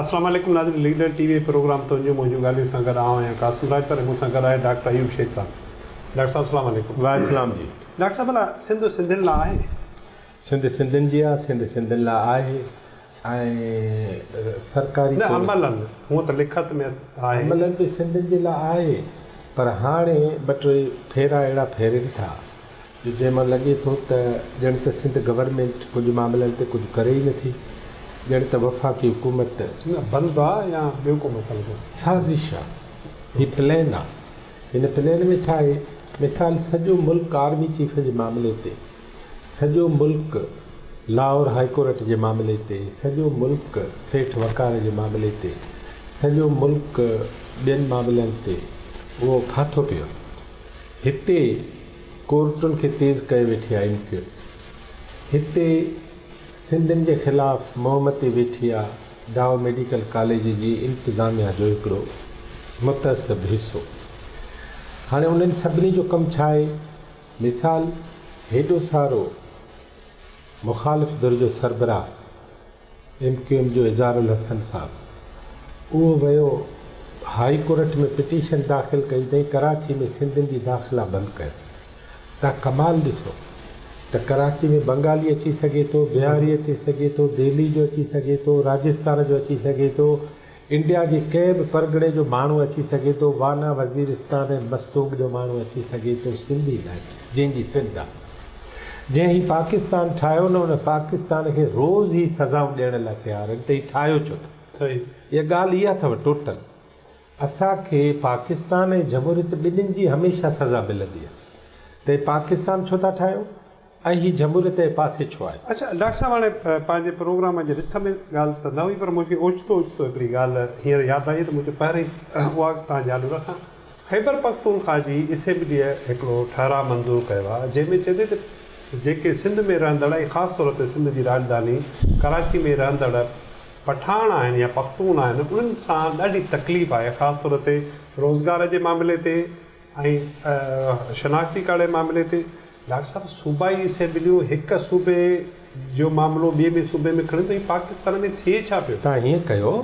اسلام عليڪم ناظرين ليڊر ٽي وي پروگرام تنهنجون منهنجون ڳالهيون سان گڏ آئون آهيان قاسم راڄپر ۽ مون سان گڏ آهي ڊاڪٽر ايوب شيخ صاحب ڊاڪٽر صاحب اسلام عليڪم. وعليڪم السلام جي. ڊاڪٽر صاحب ڀلا سنڌ سنڌين لا آهي؟ سنڌ سنڌين جي آ سنڌ سنڌين لا آهي ۽ سرڪاري نه طور عملن هونء ته لکت ۾ آهي. عملن به سنڌين جي لا آهي پر هاڻي ٻه ٽي ڦيرا اهڙا ڦيرين ٿا جو جنهن مان لڳي ٿو ته ڄڻ ته سنڌ گورنمينٽ ڪجهه معاملن تي ڪجهه ڪري ئي نٿي، ڄڻ ته وفاقي حڪومت. نه بند آ يا ٻيو ڪو مسئلو ٿو. سازش آ، هي پلين آ، هن پلين ۾ ڇا آهي، مثال سڄو ملڪ آرمي چيف جي معاملي تي، سڄو ملڪ لاهور هائي ڪورٽ جي معاملي تي، سڄو ملڪ سيٺ وقار جي معاملي تي، سڄو ملڪ ٻين معاملن تي اهو ڦاٿو پيو هتي. ڪورٽن کي تيز ڪيو ويٺي آ ايم ڪيو هتي سنڌين جي خلاف منهن متي ويٺي آ ڊاء ميڊيڪل ڪاليج جي انتظاميا جو هڪڙو متعصب حصو هاڻي انهن سڀني جو ڪم ڇا آهي مثال هيڏو سارو مخالف ڌر جو سربراهه ايم ڪيو ايم جو اظهار الحسن صاحب اهو ويو هاء ڪورٽ ۾ پٽيشن داخل ڪئي اٿئين ڪراچي ۾ سنڌين جي داخلا بند ڪيو تان ڪمال ڏسو ته ڪراچي ۾ بنگالي اچي سگهي ٿو بهاري اچي سگهي ٿو دهلي جو اچي سگهي ٿو راجستان جو اچي سگهي ٿو انڊيا جي ڪنهن به پرڳڻي جو ماڻهو اچي سگهي ٿو، وانا وزيرستان ۽ مستونگ جو ماڻهو اچي سگهي ٿو، سنڌي نه اچي، جنهن جي سنڌ آ. جنهن هي پاڪستان ٺاهيو نه ان پاڪستان کي روز هي سزائون ڏيڻ لاء تيار آهن ته هي ٺاهيو ڇو ٿا. صحيح اها ڳالهه اها اٿو ٽوٽل اسان کي پاڪستان ۽ جمهوريت ٻنهين جي هميشه سزا ملندي آهي ته هي پاڪستان ڇو ٿا ٺاهيو. ۽ هي جهمولي تنهن پاسي ڇو آهي؟ اڇا ڊاڪٽر صاحب هاڻي پنهنجي پروگرام جي رٿ ۾ ڳالهه ته نه هئي پر مون کي اوچتو اوچتو هڪڙي ڳالهه هينئر ياد آئي ته مون چيو پهرين اها توهان جي آڏو رکان خيبر پختونخواه جي اسيمبليء هڪڙو ٺهراء منظور ڪيو آهي جنهن ۾ چئي ٿي ته جيڪي سنڌ ۾ رهندڙ ۽ خاص طور تي سنڌ جي راڄڌاني ڪراچي ۾ رهندڙ پٺاڻ آهن يا پختون آهن انهن سان ڏاڍي تڪليف آهي خاص طور تي روزگار جي معاملي تي ۽ شناختي ڪارڊ جي معاملي تي ڊاڪٽر صاحب صوبائي اسيمبليون هڪ صوبي جو معاملو ٻئي ۾ صوبي ۾ کڻن ته هي پاڪستان ۾ ٿئي ڇا پيو؟ تان هيئن ڪيو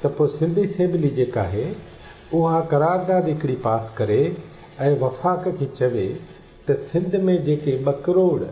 ته پوء سنڌ اسيمبلي جيڪا آهي اها قرارداد هڪڙي پاس ڪري ۽ وفاق کي چوي ته سنڌ ۾ جيڪي ٻه ڪروڙ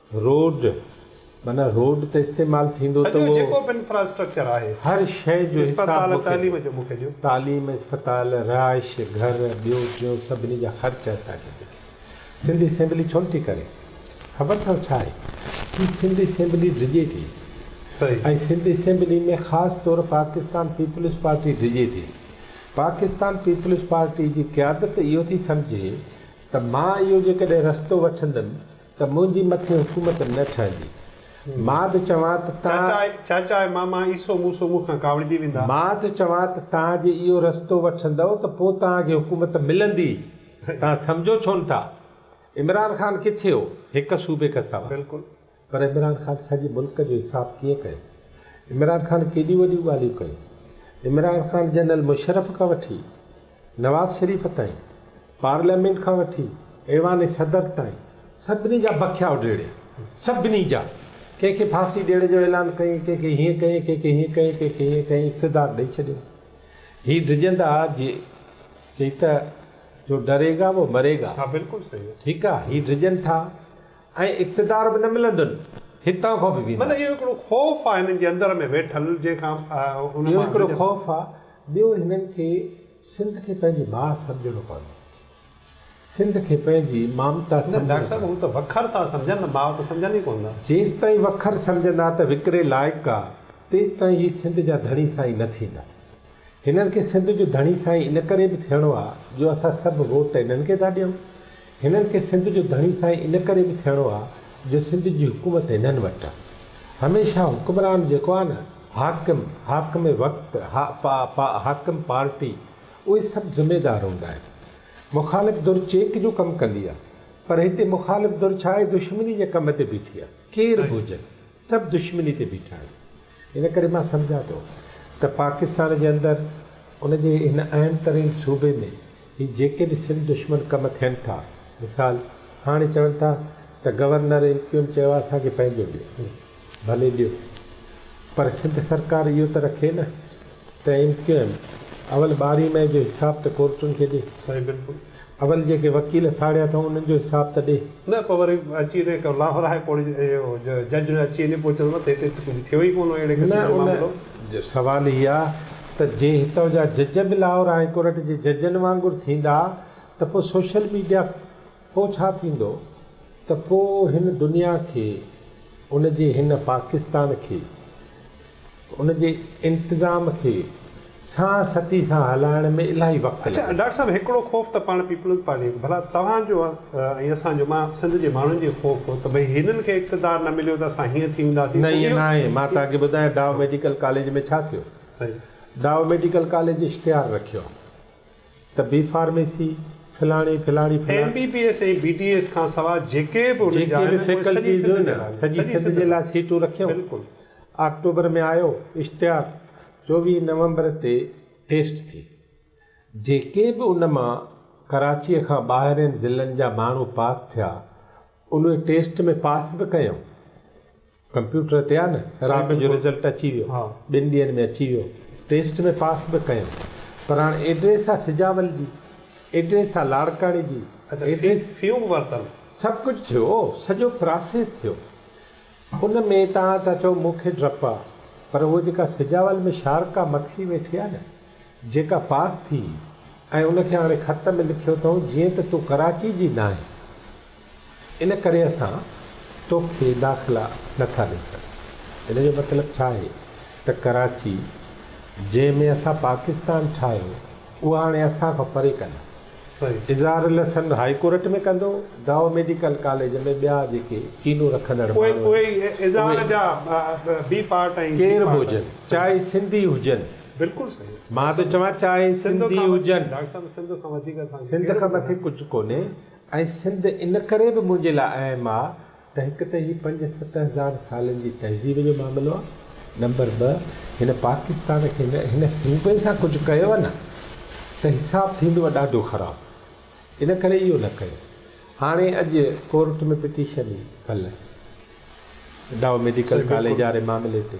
روڊ معنيٰ روڊ ته استعمال ٿيندو ته اهو سڄو جيڪو به انفراسٽرڪچر آهي هر شيء جو حساب اسپتال مونکي تعليم ڏيو جو مونکي ڏيو. تعليم اسپتال رهائش گهر ٻيو ٽيون سڀني جا خرچ اسان کي ڏيو سنڌ اسيمبلي ڇو نٿي ڪري خبر اٿو ڇا آهي ڪي سنڌ اسيمبلي ڊڄي ٿي صحيح. ۽ سنڌ اسيمبلي ۾ خاص طور پاڪستان پيپلز پارٽي ڊڄي ٿي پاڪستان پيپلز پارٽي جي قيادت اهو ٿي سمجهي ته مان اهو جيڪڏهن رستو وٺندم ته منهنجي مٿي حڪومت نه ٺهندي. ماد چوان ته تان. چاچا ۽ ماما ايسو موسو مون کان ڪاوڙجي ويندا. ماد چوان ته تان جي اهو رستو وٺندؤ ته پوء توهان کي حڪومت ملندي. توهان سمجهو ڇو نه ٿا. عمران خان ڪٿي هو؟ هڪ صوبي کان سواء. بلڪل. پر عمران خان سڄي ملڪ جو حساب ڪيئن ڪيو؟ عمران خان ڪيڏيون وڏيون ڳالهيون ڪيون؟ عمران خان جنرل مشرف کان وٺي. نواز شريف تائين، پارليامينٽ کان وٺي ايوان صدر تائين سڀني جا بکيا اڊيڙيا، سڀني جا، ڪنهن کي ڦاسي ڏيڻ جو اعلان ڪيئي، ڪنهن کي هيئن ڪيئي، ڪنهن کي هيئن ڪيئي، ڪنهن کي هيئن ڪيئي، اقتدار ڏئي ڇڏيائين. هي ڊڄندا جي چئي ته جو ڊري گا وو مري گا. ها بلڪل صحيح آ. ٺيڪ آ هي ڊڄن ٿا ۽ اقتدار به نه ملندن هتان کان به ويندا. معنيٰ اهو هڪڙو خوف آ هنن جي اندر ۾ ويٺل جنهن کان ان مان. اهو هڪڙو خوف آ. ٻيو هنن کي سنڌ کي پنهنجي ماء سمجهڻو پوندو. سنڌ کي پنهنجي مامتا سمجهڻو پوندو. نه ڊاڪٽر صاحب هو ته وکر ٿا سمجهن نه ماء ته سمجهن ئي ڪونه ٿا. جيستائين وکر سمجهندا ته وڪري لائق آ تيستائين هي سنڌ جا ڌڻي سائين نه ٿيندا. هنن کي سنڌ جو ڌڻي سائين ان ڪري به ٿيڻو آ جو اسان سڀ ووٽ هنن کي ٿا ڏيون. هنن کي سنڌ جو ڌڻي سائين ان ڪري به ٿيڻو آ جو سنڌ جي حڪومت هنن وٽ آ. هميشه حڪمران جيڪو آ نه حاڪم، حاڪم وقت، حاڪم پارٽي اهي سڀ ذميدار هوندا آهن. مخالف ڌر چيڪ جو ڪم ڪندي آ پر هتي مخالف ڌر ڇا آهي دشمني جي ڪم تي بيٺي آ. ڪير به هجن سڀ دشمني تي بيٺا آهن. ان ڪري مان سمجهان ٿو ته پاڪستان جي اندر ان جي هن اهم ترين صوبي ۾ هي جيڪي به سنڌ دشمن ڪم ٿين ٿا مثال هاڻي چون ٿا ته گورنر ايم ڪيو ايم چيو آهي اسان کي پنهنجو ڏيو ڀلي ڏيو پر سنڌ سرڪار اهو ته رکي نه ته ايم ڪيو ايم اول ٻارهين مئي جو حساب ته ڪورٽن کي ڏي. سائين بلڪل اول جيڪي وڪيل ساڙيا اٿئون انهن جو حساب ته ڏي. نه پوء وري اچي وڃي ڪو لاهور هاء ڪورٽ جو جج نه اچي وڃي پوء چوندو ته هتي ته ڪجهه ٿيو ئي ڪونه اهڙي قسم جو معاملو. نه ان سوال هي آ ته جي هتئون جا جج به لاهور هاء ڪورٽ جي ججن وانگر ٿيندا ته پوء سوشل ميڊيا. پوء ڇا ٿيندو ته ڪو هن دنيا کي، ان جي هن پاڪستان کي، ان جي انتظام کي سان ستي سان هلائڻ ۾ الاهي وقت اڇا لڳي. ڊاڪٽر صاحب هڪڙو خوف ته پاڻ پيپلز پارٽي جو ڀلا توهان جو ۽ اسان جو مان سنڌ جي ماڻهن جي خوف هو ته ڀئي هنن کي اقتدار نه مليو ته اسان هيئن ٿي وينداسين نه ائين ناهي مان توهان کي ٻڌايان ڊاء ميڊيڪل ڪاليج ۾ ڇا ٿيو ڊاء ميڊيڪل ڪاليج اشتهار رکيو. ته بي فارميسي، فلاڻي، فلاڻي، فلاڻي. M B B S ۽ B D S کان سواء جيڪي به انهن جي آهن اهي سڄي سنڌ ۾ آهن. سڄي سنڌ جي لاء سيٽون رکيون. بلڪل. آڪٽوبر ۾ آيو اشتهار، چوويهه نومبر تي ٽيسٽ ٿي. جيڪي به ان مان ڪراچيء کان ٻاهرين ضلعن جا ماڻهو پاس ٿيا، انهي ٽيسٽ ۾ پاس به ڪيائون. ڪمپيوٽر تي آ نه رات جو رزلٽ اچي ويو ٻن ڏينهن ۾ اچي ويو ٽيسٽ ۾ پاس به ڪيم پر هاڻ ايڊريس آ سجاول جي ايڊريس آ لاڙڪاڻي جي ايڊريس فيون به ورتل سڀ ڪجهه ٿيو سڄو پراسيس ٿيو ان ۾ توهان ٿا چئو مون کي ڊپ آ پر هوء جيڪا سجاول ۾ شارقا مکسي ويٺي آ نه جيڪا پاس ٿي ۽ ان کي هاڻي خط ۾ لکيو اٿئون جيئن ته تون ڪراچي جي ناهين ان ڪري اسان تو کي داخلا نه ٿا ڏئي سگهون. ان جو مطلب ڇا آهي ته ڪراچي جنهن ۾ اسان پاڪستان ٺاهيو اها هاڻي اسان کان پري ڪندا. اظهار لسن هائي ڪورٽ ۾ ڪندو، دائو ميڊيڪل ڪاليج ۾ ٻيا جيڪي ڪينو رکندڙ ماڻهو آهن اهي ڪير به هجن چاهي سنڌي هجن مان ٿو چوان چاهي سنڌي هجن سنڌ کان مٿي ڪجهه ڪونهي. ۽ سنڌ ان ڪري به منهنجي لاء اهم آ ته هڪ ته هي پنج ست هزار سالن جي تهذيب جو معاملو آ، نمبر ٻه هن پاڪستان کي نه هن صوبي سان ڪجهه ڪيو نه ته حساب ٿيندو ها ڏاڍو خراب ان ڪري اهو نه ڪيو هاڻي اڄ ڪورٽ ۾ پٽيشن هئي ڪلهه ڊاء ميڊيڪل ڪاليج واري معاملي تي.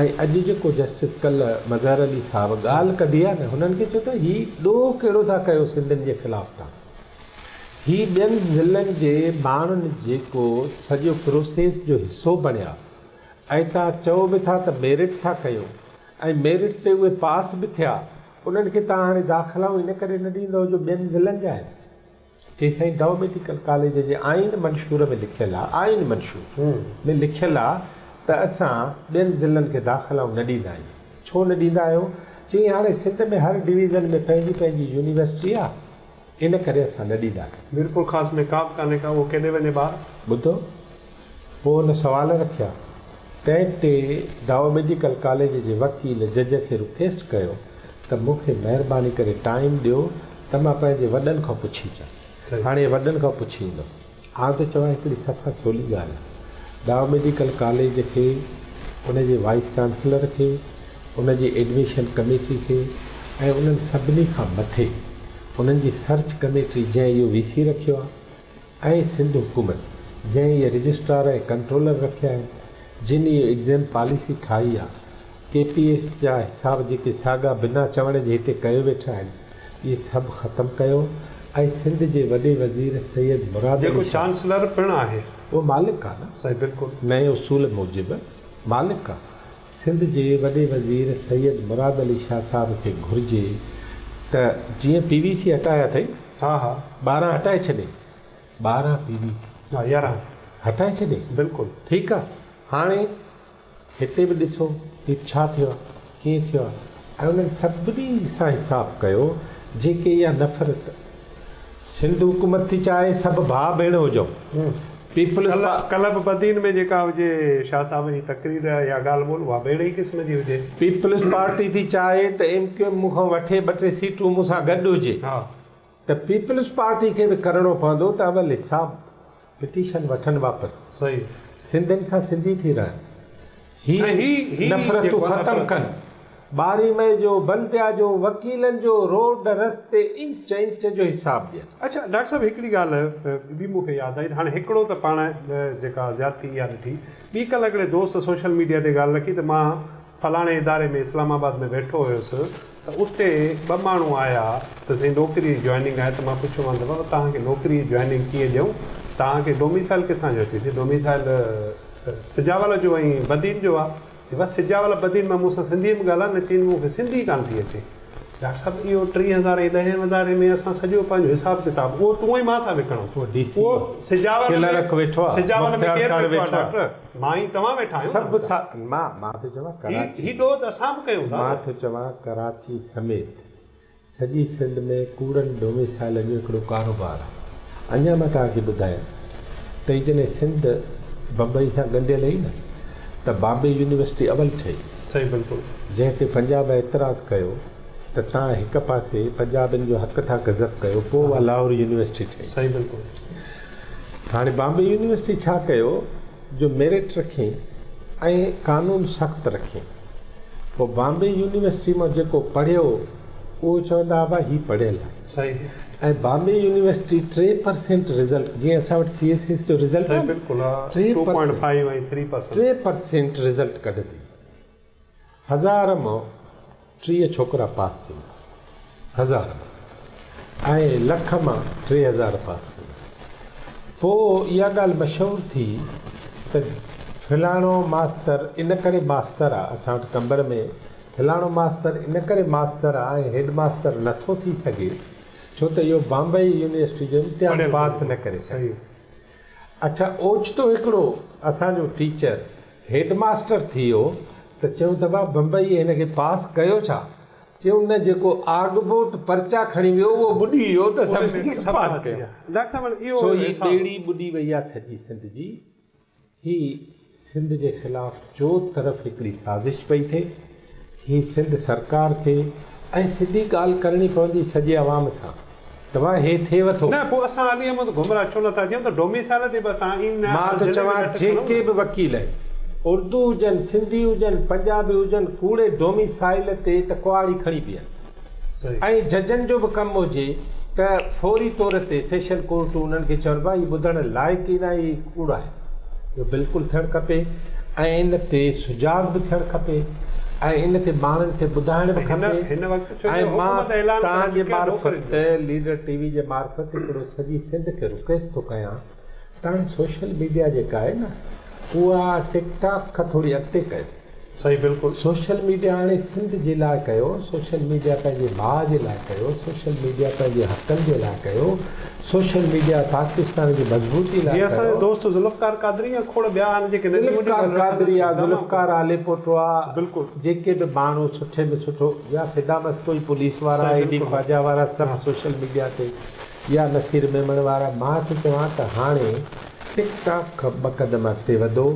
۽ اڄ جيڪو جسٽس ڪل مظهر علي صاحب ڳالهه ڪڍي آهي نه هنن کي چئو ته هي ڏوهه ڪهڙو ٿا ڪيو سنڌين جي خلاف تان هي ٻين ضلعن جي ماڻهن جيڪو سڄو پروسيس جو حصو بڻيا ۽ تان چئو به ٿا ته ميرٽ ٿا ڪيو ۽ ميرٽ تي اهي پاس به ٿيا انهن کي تان هاڻي داخلائون ان ڪري نه ڏيندئو جو ٻين ضلعن جا آهن. چي سائين ڊو ميڊيڪل ڪاليج جي آئين منشور ۾ لکيل آ آئين منشور ۾ لکيل آ ته اسان ٻين ضلعن کي داخلائون نه ڏيندا آهيون ڇو نه ڏيندا آهيو چي هاڻي سنڌ ۾ هر ڊويزن ۾ پنهنجي پنهنجي يونيورسٽي آ ان ڪري اسان نه ڏينداسين. ميرپورخاص ۾ ڪابه ڪانهي ڪا اهو ڪيڏي وڃي ٻار. ٻڌو پوء هن سوال رکيا. تنهن تي دائو ميڊيڪل ڪاليج جي وڪيل جج کي رڪيسٽ ڪيو ته مون کي مهرباني ڪري ٽائيم ڏيو ته مان پنهنجي وڏن کان پڇي اچان. هاڻي وڏن کان پڇي ايندم. آئون ٿو چوان هڪڙي صفا سولي ڳالهه دائو ميڊيڪل ڪاليج کي، ان جي وائيس چانسلر کي، ان جي ايڊميشن ڪميٽي کي ۽ انهن سڀني کان مٿي انهن جي سرچ ڪميٽي جنهن اهو وي سي رکيو آهي ۽ سنڌ حڪومت جنهن اهي رجسٽرار ۽ ڪنٽرولر رکيا آهن، جن اهي ايگزيم پاليسي ٺاهي آ، ڪي پي ايس جا حساب جيڪي ساڳا بنا چوڻ جي هتي ڪيو ويٺا آهن، اهي سڀ ختم ڪيو ۽ سنڌ جي وڏي وزير سيد مراد علي جيڪو شاهه چانسلر پڻ آهي. اهو مالڪ آ نه سائين بلڪل. نئين اصول موجب مالڪ آ. سنڌ جي وڏي وزير سيد مراد علي شاهه صاحب کي گهرجي ته جيئن پي وي سي هٽايا اٿئي ها ها ٻارهن هٽائي ڇڏي ٻارهن پي وي سي ها يارهن هٽائي ڇڏي بلڪل ٺيڪ آ هاڻي هتي به ڏسو ته ڇا ٿيو آ ڪيئن ٿيو آ ۽ انهن سڀني سان حساب ڪيو جيڪي اها نفرت سنڌ حڪومت ٿي چاهي سڀ ڀاء ڀيڻ هجون پيپلز پا. ڪلب بدين ۾ جيڪا هجي شاهه صاحب جي تقرير يا ڳالهه ٻولهه اها به اهڙي ئي قسم جي هجي. پيپلز پارٽي ٿي چاهي ته ايم ڪيو ايم مون کان وٺي ٻه ٽي سيٽون مون سان گڏ هجي ته پيپلز پارٽي کي به ڪرڻو پوندو ته اول حساب پٽيشن وٺن واپس. صحيح. سنڌين سان سنڌي ٿي رهن. هي نفرتون ختم ڪن. ٻارهين مئي جو، بنديا جو، وڪيلن جو، روڊ رستي انچ انچ جو حساب ڏين. اڇا ڊاڪٽر صاحب هڪڙي ڳالهه ٻي مون کي ياد آئي ته هاڻي هڪڙو ته پاڻ جيڪا زيادتي اها ڏٺي ٻي ڪلهه هڪڙي دوست سوشل ميڊيا تي ڳالهه رکي ته مان فلاڻي اداري ۾ اسلام آباد ۾ ويٺو هيس ته اتي ٻه ماڻهو آيا ته سائين نوڪري جي جوائننگ آهي ته مان پڇيو مان ته بابا توهان کي نوڪري جي جوائننگ ڪيئن ڏيون توهان کي ڊوميسائل ڪٿان جو اچي سي ڊوميسائل سجاول جو ۽ بدين جو آهي چي بس سجاول بدين مان مون سان سنڌي ۾ ڳالهاء نه چين مون کي سنڌي ڪانه ٿي اچي ڊاڪٽر صاحب اهو ٽي هزار ۽ ڏهين اداري ۾ اسان سڄو پنهنجو حساب ڪتاب اهو تون ۽ مان ٿا وڪڻون اهو سجاول ۾ سجاول ۾ ڪير ويٺو آهي ڊاڪٽر مان ۽ توهان ويٺا آهيون نه هوندان. مان مان ٿو چوان ڪراچي. هي ڏوهه اسان به ڪيون ٿا نه. مان ٿو چوان ڪراچي سميت سڄي سنڌ ۾ ڪوڙن ڊوميسائيلن جو هڪڙو ڪاروبار آهي. اڃان مان توهان کي ٻڌايم ته جڏهن سنڌ بمبئي سان ڳنڍيل هئي نه ته بامبي يونيورسٽي اول ٺهي. صحيح بلڪل. جنهن تي پنجاب اعتراض ڪيو ته توهان هڪ پاسي پنجابين جو حق ٿا گزپ ڪيو پوء اها لاهور يونيورسٽي ٺهي. صحيح بلڪل. هاڻي بامبي يونيورسٽي ڇا ڪيو جو ميرٽ رکين ۽ قانون سخت رکين پوء بامبي يونيورسٽي مان جيڪو پڙهيو اهو چوندا ابا هي پڙهيل آهي ۽ بامبي يونيورسٽي ٽي پرسينٽ رزلٽ جيئن اسان وٽ سي ايس ايس جو رزلٽ آهي ٽي پرسينٽ رزلٽ ڪڍندي هزار مان ٽيهه ڇوڪرا پاس ٿيندا. هزار مان ۽ لک مان ٽي هزار پاس ٿيندا. پوء اها ڳالهه مشهور ٿي ته فلاڻو ماستر ان ڪري ماستر آ، اسان وٽ قمبر ۾ فلاڻو ماستر ان ڪري ماستر آ ۽ هيڊ ماستر نه ٿو ٿي سگهي ڇو ته اهو بامبئي يونيورسٽي جو امتحان پاس نه ڪري سگهيو. اڇا اوچتو هڪڙو اسان جو ٽيچر هيڊ ماستر ٿي ويو ته چيون ته ڀا بمبئيء هن کي پاس ڪيو ڇا؟ چيون نه جيڪو آگبوٽ پرچا کڻي ويو اهو ٻڏي ويو ته سڀني کي پاس ڪيو. سو هي ٻيڙي ٻڏي وئي آ سڄي سنڌ جي. هي سنڌ جي خلاف چوطرف هڪڙي سازش پئي ٿئي. هي سنڌ سرڪار ٿي ۽ سڌي ڳالهه ڪرڻي پوندي سڄي عوام سان. توهان هي ٿي وٺو. نه پوء اسان علي احمد گمراهه ڇو نٿا ٿيون ته ڊوميسائيل تي به اسان اين نه مان ٿو چوان جيڪي به وڪيل آهن اردو هجن سنڌي هجن پنجابي هجن ڪوڙي ڊوميسائيل تي ته ڪهاڙي کڻي بيهن. ائين ججن جو به ڪم هجي ته فوري طور تي سيشن ڪورٽون انهن کي چون ڀاء هي ٻڌڻ لائق ئي ناهي هي ڪوڙ آهي. اهو بلڪل ٿيڻ کپي ۽ ان تي سجاڳ به ٿيڻ کپي ۽ ان تي ماڻهن کي ٻڌائڻ به کپي ۽ مان توهان جي معرفت ليڊر ٽي وي جي معرفت هڪڙو سڄي سنڌ کي رڪويسٽ ٿو ڪيان تاڻي سوشل ميڊيا جيڪا آهي نه اها ٽڪ ٽاڪ کان ٿوري اڳتي ڪيو. صحيح بلڪل. سوشل ميڊيا هاڻي سنڌ جي لاء ڪيو، سوشل ميڊيا پنهنجي ڀاء جي لاء ڪيو، سوشل ميڊيا پنهنجي حقن جي لاء ڪيو، سوشل ميڊيا پاڪستان جي مضبوطي لاء ڪيو. جي اسان جو دوست ذوالفقار قادري يا کوڙ ٻيا آهن جيڪي ننڍي وڏي ذوالفقار ڳالهيون ڪندا قادري آهن. ذوالفقار آليپوٽوا بلڪل. جيڪي به ماڻهو سٺي ۾ سٺو يا فدا مستوئي پوليس وارا صحيح اي ڊي بلڪل. خواجا وارا سڀ صحيح. سوشل ميڊيا تي يا نصير ميمڻ وارا مان ٿو چوان ته هاڻي ٽڪ ٽاڪ کان ٻه قدم اڳتي وڌو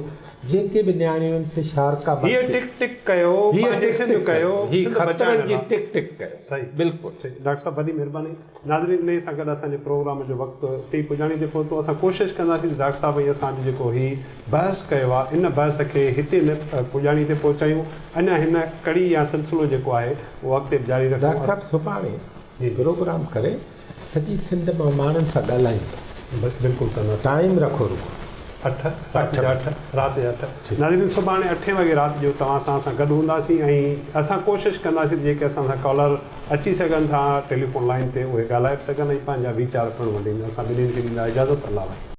جيڪي به نياڻيون سي شارڪا هيء بخش ٽڪ ٽڪ ڪيو هيء پنهنجي ٽڪ سنڌ ٽڪ ڪيو ڪيو هيء سنڌ خطرن بچائڻ جي لاء ٽڪ ٽڪ ڪيو صحيح بلڪل. صحيح ڊاڪٽر صاحب وڏي مھرباني ناظرين انهي سان گڏ اسان جي پروگرام جو وقت اتي ئي پڄاڻي تي پهتو اسان ڪوشش ڪنداسين ته ڊاڪٽر صاحب ۽ اسان جو جيڪو هي بحث ڪيو آهي ان بحث کي هتي نه پڄاڻي تي پهچايون اڃا هن ڪڙي يا سلسلو جيڪو آهي اهو اڳتي به جاري رکون ڊاڪٽر صاحب سڀاڻي جي پروگرام ڪري سڄي سنڌ مان ماڻهن سان ڳالهائيندا. بلڪل ڪنداسين. ٽائيم رکو رڳو اٺ رات جا اٺ رات جا اٺ ٺيڪ. ناظرين سڀاڻي اٺين وڳي رات جو توهان سان اسان گڏ هونداسين ۽ اسان ڪوشش ڪنداسين ته جيڪي اسان سان ڪالر اچي سگهن ٿا ٽيليفون لائين تي اهي ڳالهائي به سگهن ۽ پنهنجا ويچار پڻ ونڊين اسان ٻنهين کي ڏيندا اجازت الله وحيد.